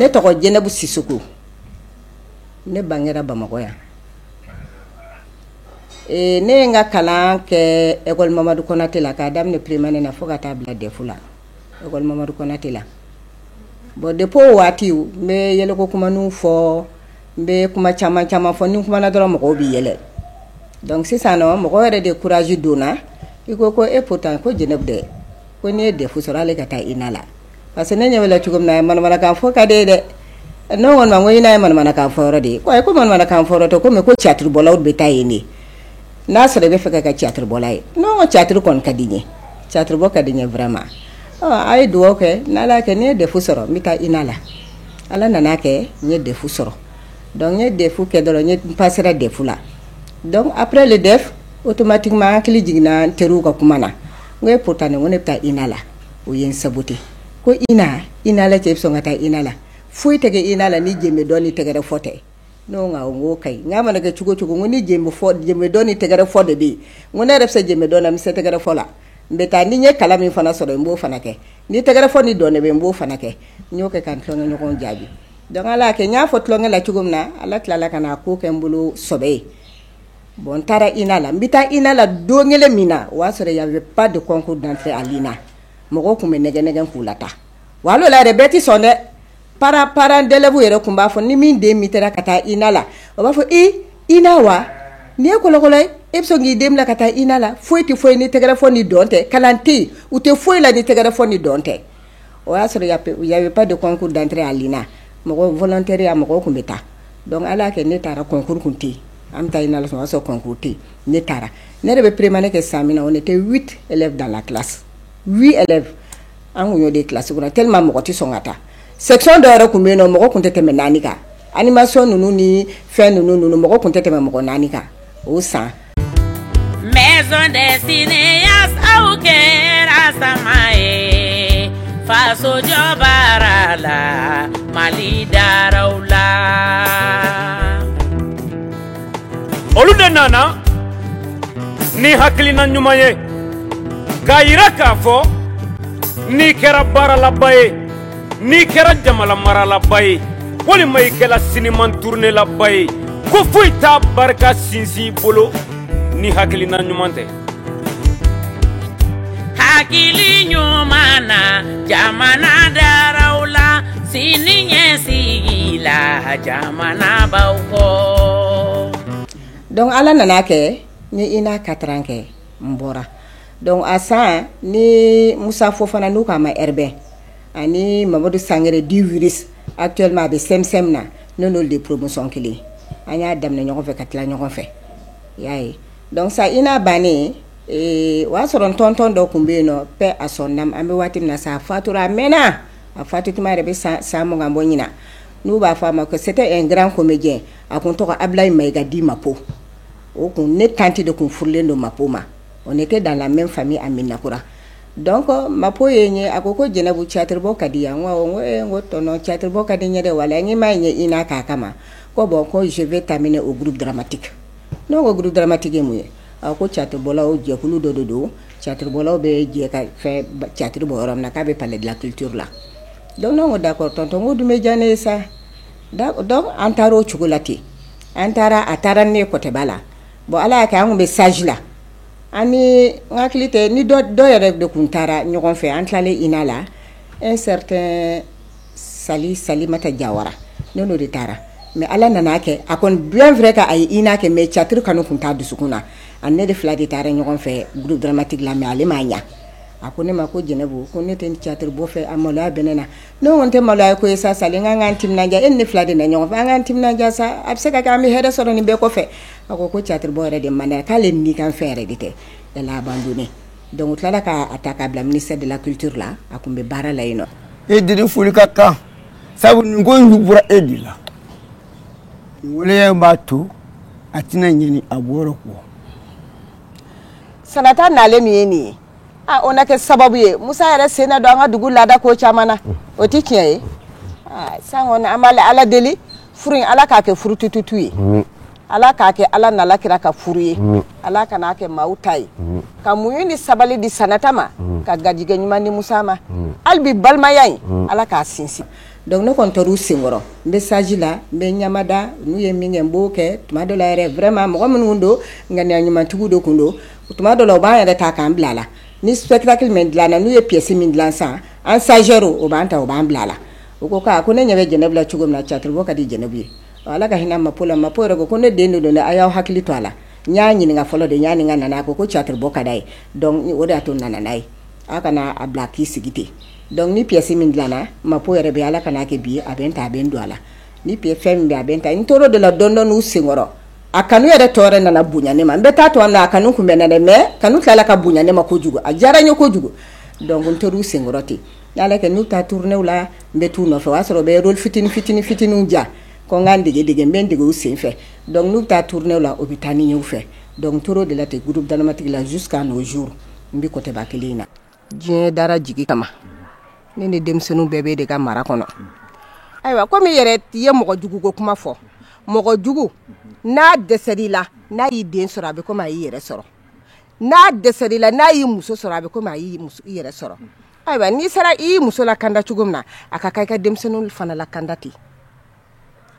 ne tɔgɔ Jɛnɛbu Sisɔkɔ ne bangera bamakɔ yan ne ye n ka kalan kɛ école Mamadou Konaté la k'a daminɛ première année na fo ka taa bila DEF la école Mamadou Konaté la bon depuis o waati n bɛ yɛlɛko kuma ninnu fɔ N bɛ kuma caman caman fɔ ni n kumana dɔrɔn mɔgɔw bɛ yɛlɛ donc sisan nɔn mɔgɔ yɛrɛ de courage don n na i ko ko e pourtant ko Jeneb dɛ ko n'i ye DEF sɔrɔ hali e ka taa INA la parce que ne ɲɛ b'e la cogo min na manamanakan fɔ ka d'e ye dɛ ne ko nin ma ko INA ye manamanakan fɔ yɔrɔ de ye ko ayi ko manamanakan fɔ yɔrɔ tɛ ko mais ko caatiri bɔlaw de bɛ taa yen de n'a sɔrɔ i bɛ fɛ ka kɛ caatiri bɔla ye ne ko caatiri kɔni ka di n ye caatiri bɔ ka di n ye vraiment ɔ a ye dugawu kɛ n'Ala y'a kɛ ni n ye DEF sɔrɔ n bɛ taa INA la Ala nana a kɛ n ye DEF sɔrɔ donc n ye DEF kɛ dɔrɔn n pasera DEF la donc après le DEF automatiquement n hakili jiginna n teriw ka kuma na n ko pourtant ne ko ne bɛ taa INA la u ye n saboté ko e INA e bɛ sɔn ka taa INA foyi tɛ INA ni jɛ dɔn ni tɛgɛrɛ fɔ tɛ n ko k'a mana kɛ cogo o cogo ni dɔn ni tɛgɛrɛ fɔ de bɛ yen ko ne yɛrɛ bɛ se jɛ dɔn na n bɛ se tɛgɛrɛ fɔ la n bɛ taa ni n ye kalan min fana sɔrɔ n b'o fana kɛ ni tɛgɛrɛ fɔ ni dɔn de bɛ n b'o fana kɛ n y'o kɛ ka n tulonkɛɲɔgɔnw jaabi donc Ala y'a kɛ n y'a fɔ tulonkɛ la cogo min na Ala tilala ka na k'o kɛ n bolo sɔbɛ ye bon n taara INA la n be taa INA la don min na o y'a sɔrɔ il y avait pas de concours d'entrée à l'INA mɔgɔw tun be nɛgɛn-nɛgɛn k'u lataa wa hal'o la yɛrɛ bɛɛ te sɔn dɛ parents parents d'élèves w yɛrɛ tun b'a fɔ ni min den mitera ka taa INA la o b'a fɔ i INA wa nin ye kɔlɔkɔlɔ ye e be sɔn k'i den bila ka taa INA la foyi te foyi ye ni tɛgɛrɛ fɔ ni dɔn tɛ kalan te yen u te foyi la ni tɛgɛrɛ fɔ ni dɔn tɛ o y'a sɔrɔ y avait pas de concours d'entrée à l'INA mɔgɔ volontaire mɔgɔw tun bɛ taa donc Ala y'a kɛ ne taara concours kun tɛ an bɛ taa INA sɔrɔ sɔrɔ concours tɛ ne taara ne yɛrɛ bɛ première année kɛ san min on était dans la cla an tun de kilasi kɔnɔ te mɔgɔ tɛ sɔn ka taa section dɔw yɛrɛ tun bɛ yen nɔn mɔgɔ tun tɛ tɛmɛ naani kan animation ninnu ni fɛn ninnu ninnu mɔgɔ tun tɛ tɛmɛ mɔgɔ naani kan o san Maison des cinéastes aw kɛra sama ye fasojɔbaara la mali dara la olu de nana ni hakilina ɲuman ye k'a jira k'a fɔ n'i kɛra baaralaba ye n'i kɛra jamana maralaba ye walima i kɛra siniman turunelaba ye ko foyi t'a barika sinsin bolo ni hakilina ɲuman tɛ hakili ɲuman na jamana daraw la sini ɲɛsigi la jamana b'aw kɔ donc ala nana kɛ ne ye INA quatre ans kɛ n bɔra Donc a san ni musa fofana n'u k'a ma bɛn ani mamadu sangare di a teri a bɛ sɛ min na n'o de promotion kelen an y'a daminɛ ɲɔgɔn fɛ ka tila ɲɔgɔn fɛ i y'a ye donc INA bannen o y'a sɔrɔ tɔntɔn dɔ tun bɛ yen nɔ bɛɛ a sɔn an bɛ waati min na sa a fatura a mɛnna a fatulen yɛrɛ bɛ san san mugan bɔ ɲinan u b'a fɔ a ma ko c'était un grand comédien a tun tɔgɔ abu mayiga dit mako o kun ne tante de tun furulen don mako ma o ne tɛ dan lamɛn fa a min nakura dɔn kɔ ma ko ye ɲɛ a ko ko jɛnɛbu catiriuru ka di yan ko tɔnɔn catiriuru ka di ɲɛ wa la n m'a ɲɛ i n'a k'a kama ko bɔn ko zfɛ ta o guru dramati n'o ko guru daramatigi mun ye a ko catobɔla o jɛkulu dɔ de don catiribɔlaw bɛ jɛ ka fɛ catiriuru bɔ yɔrɔ min na k'a bɛ pale dilan kituuru la don ko da kɔrɔ tɔn ko dun bɛ jan ne ye sa an taara o cogo la ten an taara a taara ne ye kɔtɛba la bon ala y'a kɛ anw bɛ stage la an hakili tɛ ni dɔ yɛrɛ de tun taara ɲɔgɔn fɛ an tilalen INA la e tɛ sa salimata jawara ne de taara mais ala nana a kɛ a kɔni bulon fɛ ka a ye INA kɛ mais tiyatiri kanu tun t'a dusukun na a ni ne de fila de taara ɲɔgɔn fɛ groupe dramatique la mais ale m ma ɲɛ a ko ne ma ko jɛnɛbu ko ne tɛ tiyatiri bɔ fɛ a maloya bɛ ne na Ne ko nin tɛ maloya ko ye sa sali an k'an timinandiya e ni ne fila de nana ɲɔgɔn fɛ an k'an timinandiya sa a bɛ se ka kɛ an bɛ hɛrɛ sɔrɔ nin bɛɛ kɔfɛ a ko tiyatiri bɔ yɛrɛ de man di k'ale ni kan fɛn yɛrɛ de tɛ da la ban don donc u tilala k'a ta k'a bila ministère de la culture la a tun bɛ baara la yen nɔ e de foli ka kan sabu nin ko y'u bɔra e de la waleya in b'a to a tɛna ɲinɛ a wɔɔrɔ kɔ sanata naale min ye nin ye o na kɛ sababu ye musa yɛrɛ sen don an ka dugu laada ko caman na o tɛ tiɲɛ ye sa an bɛ ala deli furu in ala k'a kɛ furu tututu ye ala k'a kɛ ala n'a kira ka furu ye ala kana a kɛ maa ta ye ka muɲu ni sabali di sanata ma ka garijɛgɛ ɲuman di musa ma hali bɛ balimaya in ala k'a sinsin donc ne kɔni tora u senkɔrɔ n bɛ stage la n bɛ ɲamada n'u ye min kɛ n b'o kɛ tuma dɔ yɛrɛ vraiment mɔgɔ minnu don ŋaniya ɲumantigiw de tun don O tuma dɔ la u b'an yɛrɛ ta k'an bila a la ni spectacle min dilanna n'u ye pièce min dilan san an sari o b'an ta o b'an bila a la u ko k' ko ne ɲɛ bɛ jɛnɛbu la cogo min na tiyatiri ka di jɛnɛbu ye ala ka hinɛ Mako la Mako yɛrɛ ko ne den don don a y'aw hakili to a la n y'a ɲininka fɔlɔ de y'a nin ka nana a ko tiyatiri bɔ ka d'a ye o de y'a to nana n'a ye aw kana a bila k'i sigi ten dɔnku ni pièce min dilanna Mako yɛrɛ bɛ ala ka n'a kɛ bi a bɛ ta a bɛ don a la ni p fɛn min bɛ a bɛ ta n tɔɔrɔ de la dɔndɔn' u sen kɔrɔ a kanu yɛrɛ tɔɔrɔ nana bonya ne ma n bɛ taa to a kanu tun bɛ ne na mɛ kanu tilala ka bonya ne ma ko kojugu a diyara n ye ko kojugu dɔnku u sen kɔrɔ ten n'a kɛ n'u taa tournéew la n bɛ t'u nɔfɛ o y'a sɔrɔ n bɛ fitinin fitinin fitinin janko n ka dege dege n bɛ dege u sen fɛ dɔnku n'u taa tournéew la u bɛ taa ni ɲɛ fɛ dɔnku o de la ten groupe dramatique la su k ka n'o zuo n bɛ kɔba kelen in na diɲɛ dara jigi kama ne ni denmisɛnninw bɛɛ b'e de ka mara kɔnɔ ayiwa komi i yɛrɛ ye mɔgɔ jugu ko kuma fɔ mɔgɔ jugu n'a dɛsɛ i la n'a y'i den sɔrɔ a bɛ komi a y'i yɛrɛ sɔrɔ n'a dɛsɛ i la n'a y'i muso sɔrɔ a bɛ komi a y'i yɛrɛ sɔrɔ ayiwa n'i sera i y'i muso lakanda cogo min na a ka kan i ka denmisɛnninw fana lakanda ten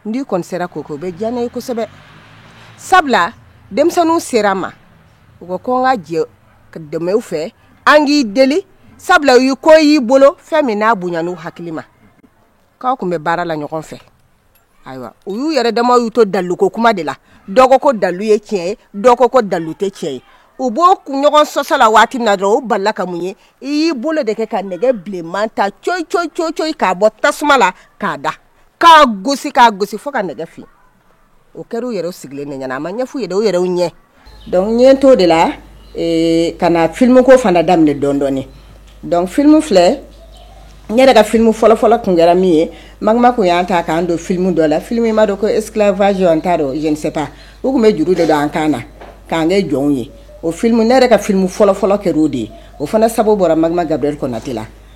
n'i kɔni sera k'o kɛ o bɛ diya ne ye kosɛbɛ sabula denmisɛnninw sera n ma u ko ko n ka jɛ ka dɛmɛ u fɛ an k'i deli sabula u ye ko y'i bolo fɛn min n'a bonya n'u hakili ma k'aw tun bɛ baara la ɲɔgɔn fɛ ayiwa u y'u yɛrɛ dama y'u to daliluko kuma de la dɔ ko ko dalilu ye tiɲɛ ye dɔ ko ko dalilu tɛ tiɲɛ ye u b'o kun ɲɔgɔn sɔsɔ la waati min na dɔrɔn u balala ka mun ye i y'i bolo de kɛ ka nɛgɛ bilenman ta coyi coyi coyi coyi k'a bɔ tasuma la k'a da k'a gosi k'a gosi fo ka nɛgɛ fin o kɛra u yɛrɛ sigilen de ɲɛ na a ma ɲɛf'u ye dɛ u yɛrɛ u ɲɛ donc ne tor'o de la ee, ka na film ko fana daminɛ dɔɔni dɔɔni donc film filɛ n yɛrɛ ka film fɔlɔ fɔlɔ tun kɛra min ye magma kun y'an ta k'an don film dɔ la film in n m'a dɔn ko esclavage an t'a dɔn je ne sais pas u kun bɛ juru de don an kan na k'an kɛ jɔnw ye o film ne yɛrɛ ka film fɔlɔ fɔlɔ kɛra o de ye o fana sababu bɔra magma gabriel konate la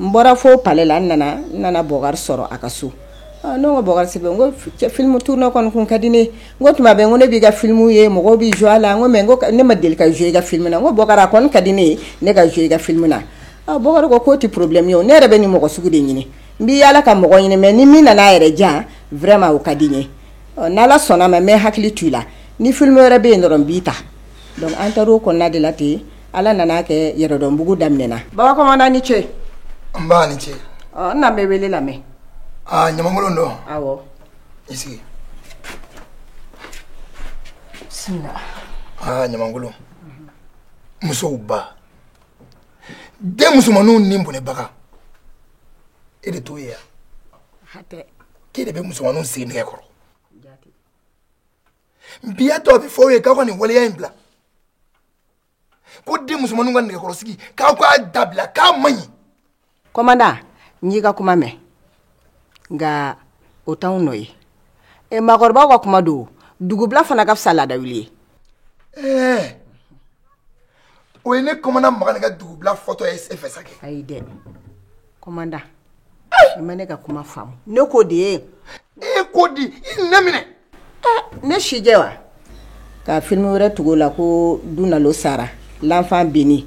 n bɔra fo palais la n nana n nana Bubakar sɔrɔ a ka so n ko Bubakar Sidibe filimu tourner kɔni kun ka di n ye o tuma bɛɛ ko ne b'i ka filimu ye mɔgɔ bɛ jouer a la ko mɛ ne ma deli ka jouer i ka filimu na ko Bubakar ko ka di ne ye ne ka jouer i ka filimu na a Bubakar ko k'o tɛ porobilɛmu ye ko ne yɛrɛ bɛ nin mɔgɔ sugu de ɲini n bɛ' ala ka mɔgɔ ɲini mɛ ni min nana aa yɛrɛ jan wɛrɛ ma o ka di n ye ni ala sɔnna n bɛ n hakili to i la ni filimu wɛrɛ bɛ yen dɔrɔn n b'i ta an taara' o kɔnɔna de la ten yen Ala nan'a kɛ yɛrɛdɔnbugu daminɛna ba kɔmandan i ni ce nba i ni ce n'an bɛ wele lamɛn Ɲamankolo don aw i sigi aa Ɲamankolo musow ba den musomanw ni bɔnɛbaga e de t'o ye wa k'e de bɛ musomanw sigi nɛgɛ kɔrɔ n b'a tɔ bɛɛ f'aw ye k'aw ka nin waleya in bila ko den musomanninw ka nɛgɛkɔrɔsigi k'aw k'a dabila k'a man ɲi kɔmanda n y'i ka kuma mɛn nka o t'anw nɔ ye e maakɔrɔbaw ka kuma don dugu bila fana ka fisa laada wuli ye ɛɛ o ye ne kɔmanda makan ne ka dugu bila fɔtɔ ye e fɛ sa kɛ ayi dɛ kɔmanda i ma ne ka kuma faamu ne k'o de ye e ko di i ne minɛ ne sijɛ wa ka film wɛrɛ tugu o la ko dunalo sara l'enfant béni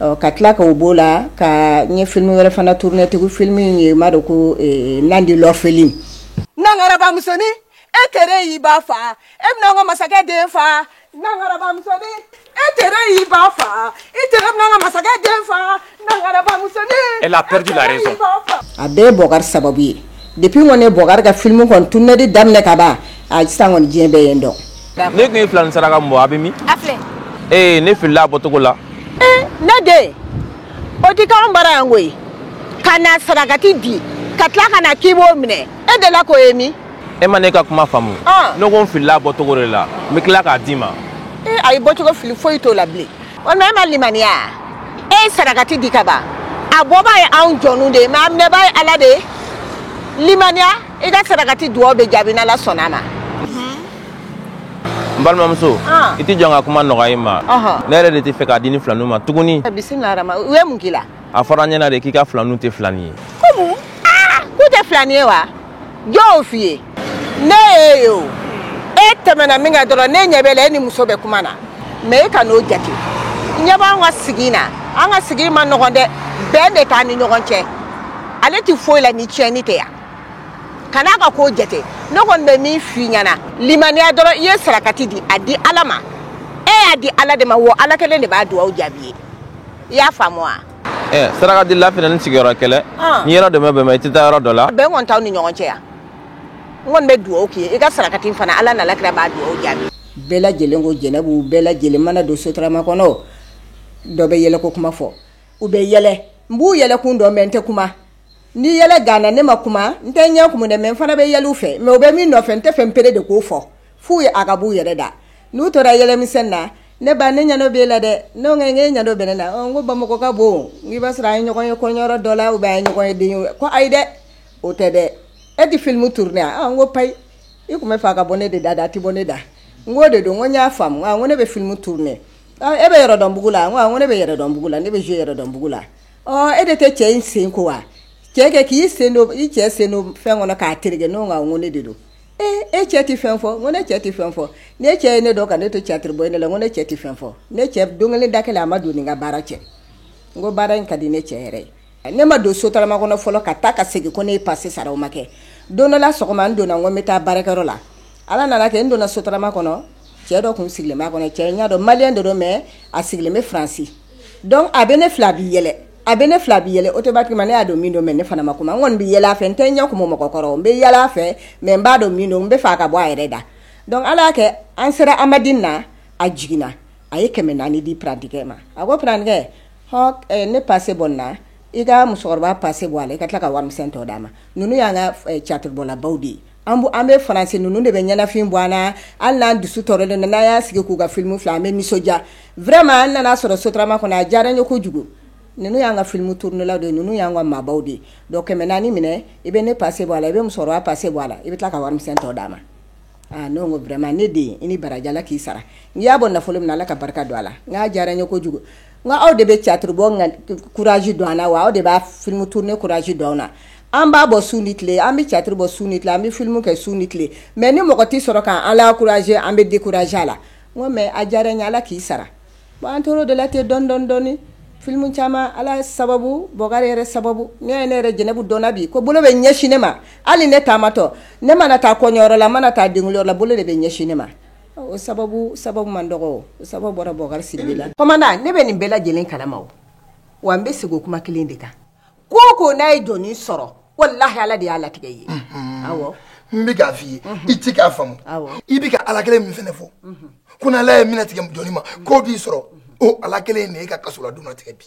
ɔ ka tila ka b'o la ka ɲɛ filimu wɛrɛ fana tourner tugu filimu in ye b'a dɔn ko nandi l'orpheline musonin e kɛra y'i ba faa e bɛna ka masakɛ den faa e kɛra y'i ba faa e tɛna ka masakɛ den faa a bɛɛ ye bokari sababu ye depuis kɔni ne bokari ka filimu kɔnɔ tourner de daminɛ ka ban sisan kɔni diɲɛ bɛɛ ye n dɔn ne tun ye filanin saraka min bɔ a bɛ min a filɛ ee ne filila a bɔcogo la eh, ne den o tɛ k'anw bara yan koyi ka na sarakati di ka tila ka na k'i b'o minɛ e delila k'o ye min e ma ne ka kuma faamu ah. ne ko n filila a bɔcogo de la n bɛ tila k'a d'i ma ee eh, ayi bɔcogo fili foyi t'o la bilen walima e ma limaniya e ye sarakati di ka ban a bɔbaa ye anw jɔnw de ye mɛ a minɛbaa ye ala de ye limaniya i ka sarakati dugaw bɛ jaabi n'ala sɔnna a ma n balimamuso i t'i jɔ n ka kuma nɔgɔya i ma ne yɛrɛ de t'a fɛ k'a di nin filaninw ma tuguni u ye mun k'i la a fɔra an ɲɛna de k'i ka filaninw tɛ filanin ye ko mun k'u tɛ filanin ye wa jɔn y'o f'i ye ne y'e ye o e tɛmɛna min kan dɔrɔn ne ɲɛ b'e la e ni muso bɛ kuma na mɛ e kan'o jate ɲɛ b'an ka sigi na an ka sigi man nɔgɔn dɛ bɛn de t'an ni ɲɔgɔn cɛ ale tɛ foyi la ni tiɲɛni tɛ yan kan'a ka ko jate ne kɔni bɛ min f'i ɲɛna limaniya dɔrɔn i ye sarakati di a di ala ma e y'a di ala de ma wo ala kelen de b'a dugawu jaabi ye i y'a faamu wa eh, saraka di lafina ni sigiyɔrɔ kɛlɛ ah. n'i yɔrɔ dɛmɛ bɛn i tɛ taa yɔrɔ dɔ la bɛn kɔni t'aw ni ɲɔgɔn cɛ yan n kɔni bɛ dugawu k'i ye i ka sarakati fana ala n'ala kira b'a dugawu jaabi bɛɛ lajɛlen ko jɛnɛbu bɛɛ lajɛlen mana don sotarama kɔnɔ dɔ bɛ yɛlɛko kuma fɔ u bɛ yɛlɛ n b'u yɛlɛkun dɔn mɛ n tɛ kuma Ni yɛlɛ ganna ne ma kuma n tɛ yɛlɛkun dɔn mɛ fana bɛ yɛlɛ u fɛ mɛ u bɛ min nɔfɛ n tɛ fɛn bereere de ko fɔ f'u ye a ka'u yɛrɛ da n'u tora yɛlɛmisɛn na ne ba ne ɲɛ bɛ la dɛ ne ɲɛ ɲɛdɔn bɛ ne la ko bamakɔ ka bon i b'a sɔrɔ a ye ɲɔgɔn ye kɔɲɔyɔrɔ dɔ la u bɛ ye ɲɔgɔn ye den ye ko ayi dɛ o tɛ dɛ e tɛ filimu tourner n ko payi i tun b'a fɛ a ka bɔ ne de da la a tɛ bɔ ne da n ko de don ko n y'a faamu ko ne bɛ filimu tourner e bɛ yɛrɛdɔnbugu la ko ne bɛ yɛrɛdɔnbugu la ne bɛ yɛrɛdɔnbugu la e de tɛ cɛ in sen ko wa cɛ kɛ k'i sen don i cɛ sen don fɛn kɔnɔ k'a tereke n ko awɔ ne de don ee e cɛ tɛ fɛn fɔ ko ne cɛ tɛ fɛn fɔ ne cɛ ye ne dɔn ka ne to catiri bɔ de la ko ne cɛ tɛ fɛn fɔ ne cɛ don kelen da kelen a ma don n ni n ka baara cɛ n ko baara in ka di ne cɛ yɛrɛ ye ne ma don sotarama kɔnɔ fɔlɔ ka taa ka segin ko ne e pase sara o ma kɛ don dɔ la sɔgɔma an donna ko n bɛ taa baarakɛyɔrɔ la ala nana kɛ n donna sotarama kɔnɔ cɛ dɔ tun sigilen kɔnɔ cɛ n y'a dɔn maliden don mɛ a sigilen bɛ faransi dɔnku a bɛ ne filɛ a bɛ yɛlɛ a bɛ ne filɛ a bɛ yɛlɛ automatiquement ne y'a dɔn min don mɛ ne fana ma kuma n kɔni bɛ yɛlɛ fɛ n tɛ ɲɛ kumu mɔgɔ kɔrɔ n bɛ yɛlɛ fɛ mɛ n b'a dɔn min don n b'a fɛ a ka bɔ a yɛrɛ da dɔnku ala y'a kɛ an sera amandini na a jiginna a ye kɛmɛ naani di parantikɛ ma a ko parantikɛ ne pase bɔ a la i ka musokɔrɔba pase bɔ a la i ka tila ka wari tɔ d'a ma nin y'an ka catiribɔlabaw de ye an an bɛ faransi ninnu de bɛ ɲɛnafin bɔ an na an n'an dusu tɔɔrɔ don n'an y'an sigi k'u ka filimu filɛ an bɛ nisɔndiya vraiment n nana aw sɔrɔ sotarama kɔnɔ a diyara n ye ko kojugu ninnu y'an ka filimu turunelaw don ninnu y'an ka maabaw de don kɛmɛ naani in minɛ i bɛ ne pase bɔ a la i bɛ musokɔrɔba pase bɔ a la i bɛ taa ka wari tɔ d'a ma n'o ko ne de i ni baraji ala k'i sara n'i y'a bɔ nafolo min na ala ka barika don a la n'a diyara n ye ko kojugu Nka aw de bɛ catiri bɔ kurasi don an na wa aw de bɛ filimu turune kurasi don an na an b'a bɔ su ni tile an bɛ catiri bɔ su ni tile an bɛ filimu kɛ su ni tile mɛ ni mɔgɔ tɛ sɔrɔ k'an ankuraze an bɛ dekuraze a la mɛ a diyara n ye ala k'i sara wa an tora o de la ten dɔɔnin dɔɔnin filimu caman ala sababu bo yɛrɛ sababu n'i ye ne yɛrɛ jɛnɛbu dɔn bi ko bolo bɛ ɲɛsin ne ma hali ne taamatɔ ne mana taa kɔɲɔyɔrɔ la n mana taa denyɔrɔ la bolo de bɛ ɲɛsin ne ma O sababu sababu man dɔgɔ sababu bɔra bubakari sidibe la komandan ne bɛ nin bɛɛ lajɛlen kalama wa an bɛ segin kuma kelen de kan ko o ko n'a ye jɔn sɔrɔ walahi ala de y'a latigɛ i ye n bɛ k'a fɔ i ye i tɛ k'a faamu i bɛ ka ala kelen min fana fɔ ko n'ala ye min latigɛ jɔn ma ko b'i sɔrɔ o ala kelen de y'i ka kaso la don latigɛ bi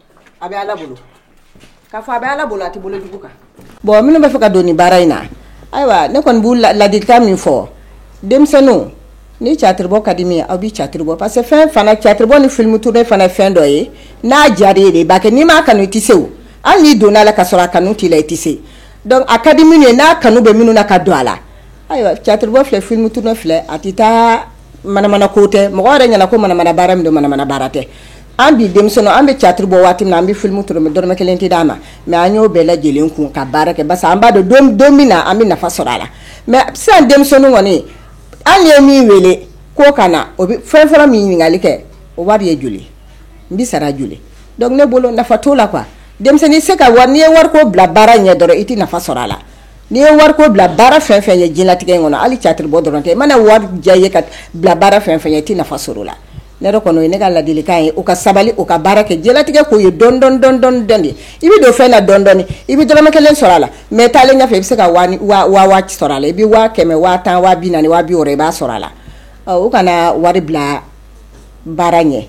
a bɛ ala bolo k'a fɔ a bɛ ala bolo a tɛ bolo jugu kan bɔn minnu b'a fɛ ka don nin baara in na ayiwa ne kɔni b'u laadi ka min fɔ denmisɛnninw ni catiribɔ ka di min aw bɛ catiribɔ parce que fɛn fana catiribɔ ni filimu turune fana fɛn dɔ ye n'a diyara i ye e de b'a kɛ n'i m'a kanu i tɛ se hali n'i donna a la ka sɔrɔ a kanu t'i la i tɛ se dɔnku a ka di minnu ye n'a kanu bɛ minnu na ka don a la ayiwa catiribɔ filɛ filimu turune filɛ a tɛ taa manamana ko tɛ mɔgɔw yɛrɛ ɲɛ na ko manamana baara min don manamana baara tɛ an bi denmisɛn an bɛ catiri bɔ waati min an bɛ filimu turune dɔrɔmɛ kelen tɛ d'an ma mɛ an y'o bɛɛ lajɛlen kun ka baara kɛ parce que an b'a dɔn don min na an bɛ nafa sɔrɔ a la mɛ sisan denmisɛnnin kɔni an ye min wele ko ka na o bɛ fɛn fɔlɔ min ɲininkali kɛ o wari ye joli n bɛ sara joli dɔnku ne bolo nafa t'o la que denmisɛnnin se ka wari n'i ye wari ko bila baara ɲɛ dɔrɔn i tɛ nafa sɔrɔ a la n'i ye wari ko bila baara fɛn o fɛn ɲɛ diɲɛlatigɛ in kɔnɔ hali catiri bɔ dɔrɔn tɛ i mana wari diya i ye ka bila baara fɛn o fɛn ɲɛ i tɛ nafa sɔrɔ a la Ne yɛrɛ kɔni o ye ne ka ladilikan ye u ka sabali u ka baara kɛ diɲɛlatigɛ ko ye dɔɔni dɔɔni de i bɛ don fɛn na dɔɔni dɔɔni i bɛ dɔrɔmɛ kelen sɔrɔ a la mais taalen ɲɛfɛ i bɛ se ka waa sɔrɔ a la i bɛ waa kɛmɛ waa tan waa binaani waa biwɔɔrɔ i b'a sɔrɔ a la u kana wari bila baara ɲɛ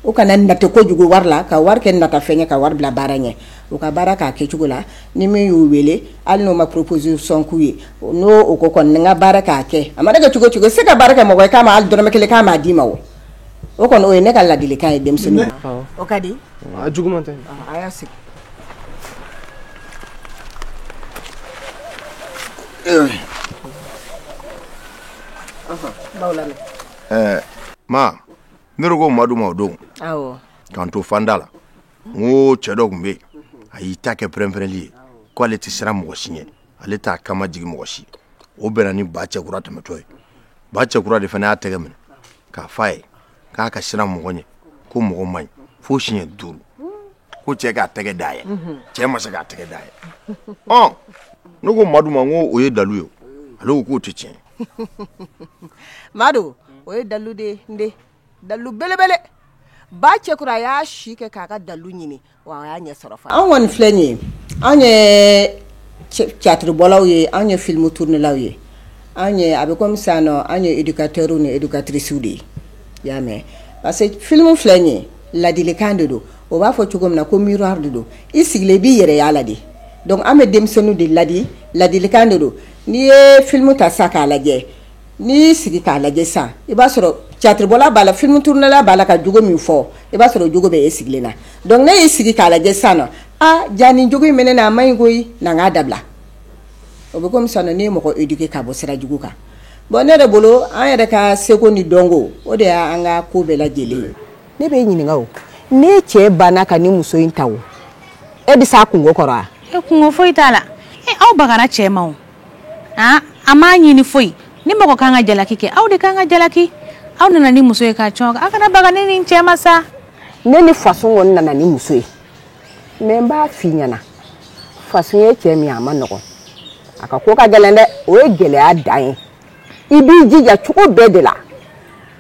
u kana nata kojugu wari la ka wari kɛ natafɛn ye ka wari bila baara ɲɛ u ka baara k'a kɛ cogo la ni min y'u wele hali n'o ma proposition k'u ye n'o o ko kɔni n ka baara k'a kɛ a mana kɛ cogo o cogo se ka baara kɛ mɔgɔ k'a ma dɔrɔmɛ kelen k'a ma d'i ma o o kɔni o ye ne ka ladilikan ye denmisɛnnin o ka di jugu tɛ a y'a sigi ma ne ko madu ma o don k'an to fanda la n ko cɛ dɔ tun bɛ yen a y'i ta kɛ pɛrɛnpɛrɛnli ye ko ale tɛ siran mɔgɔ si ɲɛ ale t'a kama jigin mɔgɔ si o bɛnna ni ba cɛkura tɛmɛtɔ ye ba cɛkura de fana y'a tɛgɛ minɛ k'a f'a ye k'a ka siran mɔgɔ ɲɛ ko mɔgɔ man ɲi fo siɲɛ duuru ko cɛ k'a tɛgɛ dayɛlɛ cɛ ma se k'a tɛgɛ dayɛlɛ ɔ ne ko madu ma ko o ye dalu ye ale k'o tɛ tiɲɛ madu o ye dalu de ye n den dalu belebele ba cɛkura a y'a si kɛ k'a ka dalu ɲini wa y'a ɲɛ sɔrɔ anw kɔni filɛ nin ye anw ye catiribɔlaw ye anw ye filimu turnalaw ye anw a bɛ kɔmimi sa nɔ anw ye éducateur ni éducatricew de ye i y'a mɛn parce que filimu filɛ in ye ladilikan de don o b'a fɔ cogo min na komedi don i sigilen i bɛ yɛlɛ a la de donc an bɛ denmisɛnninw de ladi ladilikan de don n'i ye filimu ta sa k'a lajɛ n'i y'i sigi k'a lajɛ sa i b'a sɔrɔ catiribɔla b'a la filimu turnala b'a la ka jogo min fɔ i b'a sɔrɔ o jogo bɛ e sigilen na donc n'i y'i sigi k'a lajɛ sa na aa jaa ni jogo in min bɛ n na a man ɲi ko n k'a dabila o bɛ komi ne ye mɔgɔ éduquer ka bɔ sira jugu kan bɔn ne de bolo an yɛrɛ ka segu ni donc o de y'an ka ko bɛɛ lajɛlen ye ne bɛ ɲininka o ne cɛ banna ka ni muso in ta o e bɛ se kungo kɔrɔ e kunko foyi t'a la e aw bagara cɛ ma aa a m'a ɲini foyi ni mɔgɔ ka kan ka jalaki kɛ aw de ka kan ka jalaki aw nana ni muso ye ka cɔn aw kana baga ne ni cɛ ma sa ne ni fasun kɔni nana ni muso ye mais n b'a f'i ɲɛna fasun ye cɛ min a man nɔgɔn a ka ko ka gɛlɛn dɛ o ye gɛlɛya dan ye i b'i jija cogo bɛɛ de la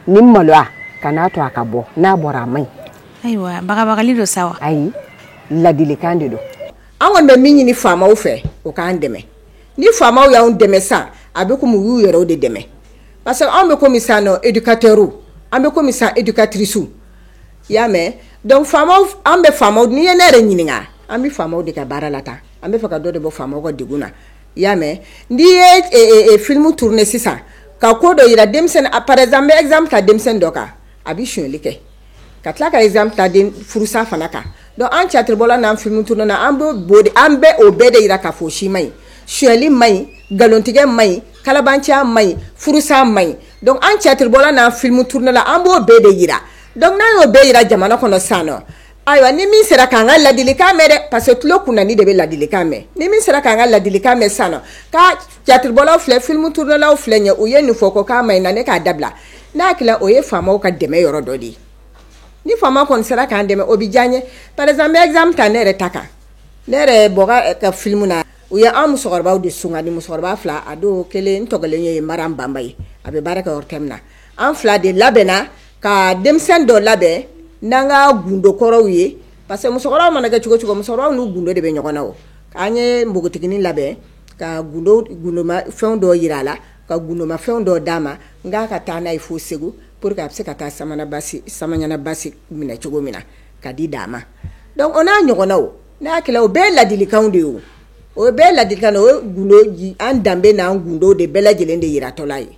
ni maloya kan'a to a ka bɔ n'a bɔra a man ɲi ayiwa bagabagali don sa wa ayi ladilikan de don anw kɔni bɛ min ɲini faamaw fɛ u k'an dɛmɛ ni faamaw y'an dɛmɛ sisan a bɛ komi u y'u yɛrɛ de dɛmɛ parce que anw bɛ komi sisan nɔ éducateurw an bɛ komi sisan éducatricew i y'a mɛn an bɛ faama n'i ye ne yɛrɛ ɲininka an bɛ faamaw de ka baara la tan an bɛ fɛ ka dɔ de bɔ faama ka degun na i y'a mɛn n'i ye filimu turune sisan ka ko dɔ jira denmisɛnnin na parce que i bɛ exemple ta denmisɛnnin dɔ kan a bɛ sonyali kɛ ka tila ka exemple ta den furusa fana kan donc an tiyatiribɔlaw n'an filimubɔlaw an b'o o de an bɛ o bɛɛ de jira k'a fɔ o si man ɲi sonyali man ɲi nkalontigɛ man ɲi kalabanciya man ɲi furusa man ɲi donc an tiyatiribɔlaw n'an filimubɔlaw an b'o bɛɛ de jira donc n'an y'o bɛɛ jira jamana kɔnɔ sisan nɔ ayiwa ni min sera k'an ka ladilikan mɛn dɛ parce que tulo kunanni de bɛ ladilikan mɛn ni min sera k'an ka ladilikan mɛn sisan nɔ ka Tiyatiribɔlaw filɛ filimuturunelaw filɛ ye u ye nin fɔ ko k'a man ɲi ne k'a dabila n'a tila o ye faama ka dɛmɛ yɔrɔ dɔ de ye ni faama kɔni sera k'an dɛmɛ o bɛ diya an ye parce que n b'a ta ne yɛrɛ ta kan ne yɛrɛ ka filimu na u ye an musokɔrɔba de sun ni musokɔrɔba fila a don kelen tɔgɔ kelen ye mara banba ye a bɛ baara kɛ min na an fila de labɛnna ka denmisɛn dɔ labɛn n'an ka gundo kɔrɔw ye parce que musokɔrɔba mana kɛ cogo cogo musokɔrɔba n'u gundo de bɛ ɲɔgɔn na o k'an ye npogotiginin labɛn ka fɛn dɔ jira a la ka gundoma fɛn dɔ d'a ma n k'a ka taa n'a ye fo segu pour que a bɛ se ka taa samaɲana basi minɛ cogo min na k'a di da ma donc o n'a ɲɔgɔnna o n'a o bɛɛ ladilikan de ye o o bɛɛ ladi o ye gundo an danbe n'an gundo de bɛɛ lajɛlen de jiratɔla ye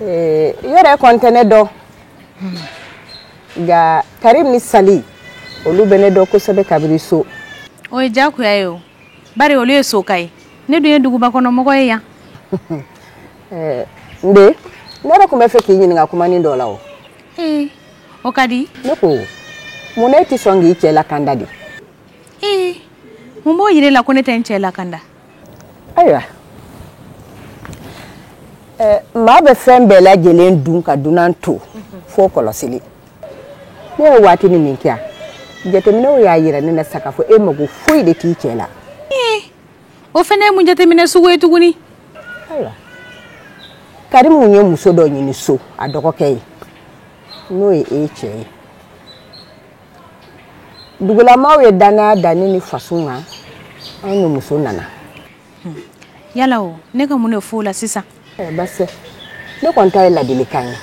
i yɛrɛ kɔni tɛ ne dɔn nka karimu ni sali olu bɛ ne dɔn kosɛbɛ kabiri so o ye diyagoya ye o bari olu ye sokaw ye ne dun ye dugubakɔnɔmɔgɔ ye yan n den ne yɛrɛ tun b'a fɛ k'i ɲininka kumanin dɔ la o ee o ka di ne ko mun na e tɛ sɔn k'i cɛ lakanda de ee mun b'o jira e la ko ne tɛ n cɛ lakanda ayiwa maa bɛ fɛn bɛɛ lajɛlen dun ka dunan to fo kɔlɔsili ne ye waatinin min kɛ yan jateminɛw y'a yira ne na sa k'a fɔ e mago foyi de t'i cɛ la o fana ye mun jateminɛ sugu ye tuguni ayiwa karimu ye muso dɔ ɲini so a dɔgɔkɛ ye n'o ye e cɛ ye dugulamaw ye dannaya da ne ni faso kan an ni muso nana hmm. yala ne ka mun de fɔ o la sisan eh, ne kɔni ta ye ladilikan ye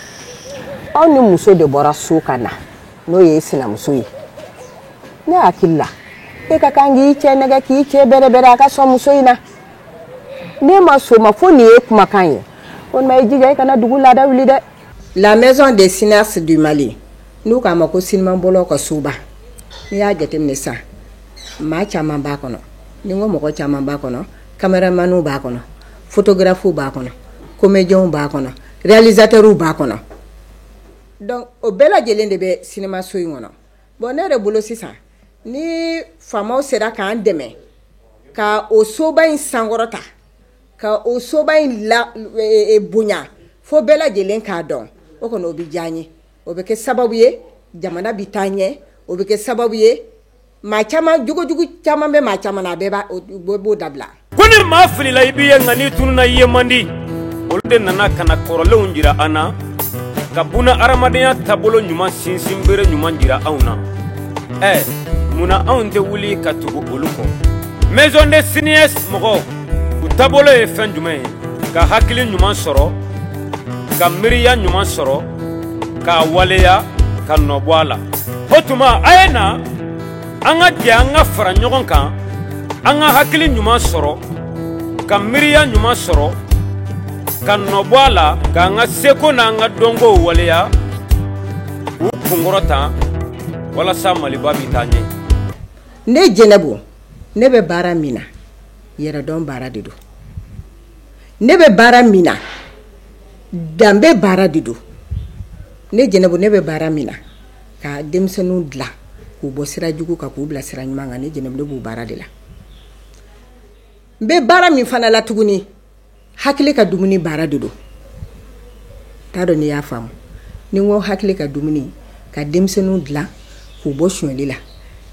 aw ni muso de bɔra so ka na n'o ye sinamuso ye ne hakili la e ka kan k'i cɛ nɛgɛn k'i cɛ bɛrɛbɛrɛ a ka sɔn muso in na ne ma soma fo nin ye kumakan ye walima i jija i kana dugu laada wuli dɛ la maison des cinéastes du mali n'u k'a ma ko sinimanbɔlaw ka soba i y'a jateminɛ sa maa caman b'a kɔnɔ n'i ko mɔgɔ caman b'a kɔnɔ cameramanw b'a kɔnɔ photographew b'a kɔnɔ comédienw b'a kɔnɔ réalisateurw b'a kɔnɔ donc o bɛɛ lajɛlen de bɛ sinimanso in kɔnɔ bon ne yɛrɛ bolo sisan ni faamaw sera k'an dɛmɛ ka o soba in sankɔrɔta ka o soba in bonya fo bɛɛ lajɛlen ka don o kɔnɔ o bɛ diya n ye o bɛ kɛ sababu ye jamana bɛ taa ɲɛ o bɛ kɛ sababu ye maa caman jogojugu caman bɛ maa caman a bɛɛ b'a o bɛ b'o dabila ko ni maa filila i b'i ye nka n'i tununna i ye man di olu de nana ka na kɔrɔlenw jira an na ka buna hadamadenya taabolo ɲuman sinsin bere ɲuman jira anw na ɛ munna anw tɛ wuli ka tugu olu kɔ maison des cinéastes mɔgɔw u taabolo ye fɛn jumɛn ye ka hakili ɲuman sɔrɔ ka miiriya ɲuman sɔrɔ k'a waleya ka nɔ bɔ a la o tuma a ye na an ka jɛ an ka fara ɲɔgɔn kan an ka hakili ɲuman sɔrɔ ka miiriya ɲuman sɔrɔ ka nɔ bɔ a la k'an ka seko n'an ka dɔnkow waleya k'u kunkɔrɔta walasa maliba bɛ taa ɲɛ ne jɛnɛbu ne bɛ baara min na yɛrɛdɔn baara de don ne bɛ baara min na danbe baara de don ne jɛnɛbu ne bɛ baara min na ka denmisɛnninw dila k'u bɔ sira jugu kan k'u bila sira ɲuman kan ne jɛnɛ b'o baara de la n bɛ baara min fana la tuguni hakili ka dumuni baara de don n t'a dɔn n'i y'a faamu n'i ko hakili ka dumuni ka denmisɛnninw dila k'u bɔ sonyali la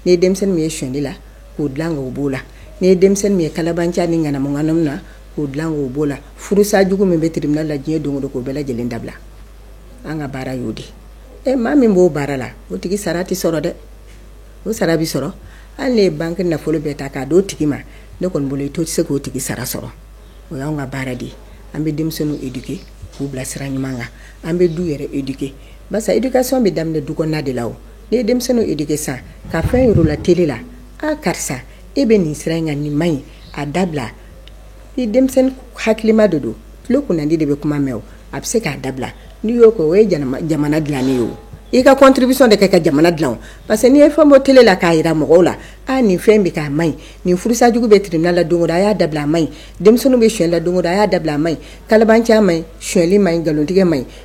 n'i ye denmisɛnnin min ye sonyali la k'o dilan k'o b'o la n'i ye denmisɛnnin min ye kalabanciya ni ŋanamu-ŋanamu na k'o dilan k'o b'o la furusa jugu min bɛ tribunal la diɲɛ don o don k'o bɛɛ lajɛlen dabila an ka baara y'o de ye ɛ maa min b'o baara la o tigi sara tɛ sɔrɔ dɛ o sara tɛ sɔrɔ hali n'i ye banque nafolo bɛɛ ta k'a d'o tigi ma ne kɔni bolo i to tɛ se k'o tigi sara sɔrɔ o y'anw ka baara de ye an bɛ denmisɛnninw éduquer k'u bila sira ɲuman kan an bɛ du yɛrɛ éduquer barisa éducation bɛ daminɛ du kɔnɔna de la o N'i ye denmisɛnninw éduquer sisan ka fɛn yira u la télé la aa karisa e bɛ nin sira in kan nin man ɲi a dabila ni denmisɛnnin hakilima de don tile kunnandi de bɛ kuma mɛn o a bɛ se k'a dabila n'i y'o kɛ o ye jamana dilanni ye o i ka contribution de kɛ ka jamana dilan o parce que n'i ye fɛn bɔ télé la k'a jira mɔgɔw la aa nin fɛn in bɛ kɛ a man ɲi nin furusa jugu bɛ tribunal la don o don a y'a dabila a man ɲi denmisɛnninw bɛ sonyali la don o don a y'a dabila a man ɲi kalabanciya man ɲi sonyali man ɲi nkalontigɛ man ɲi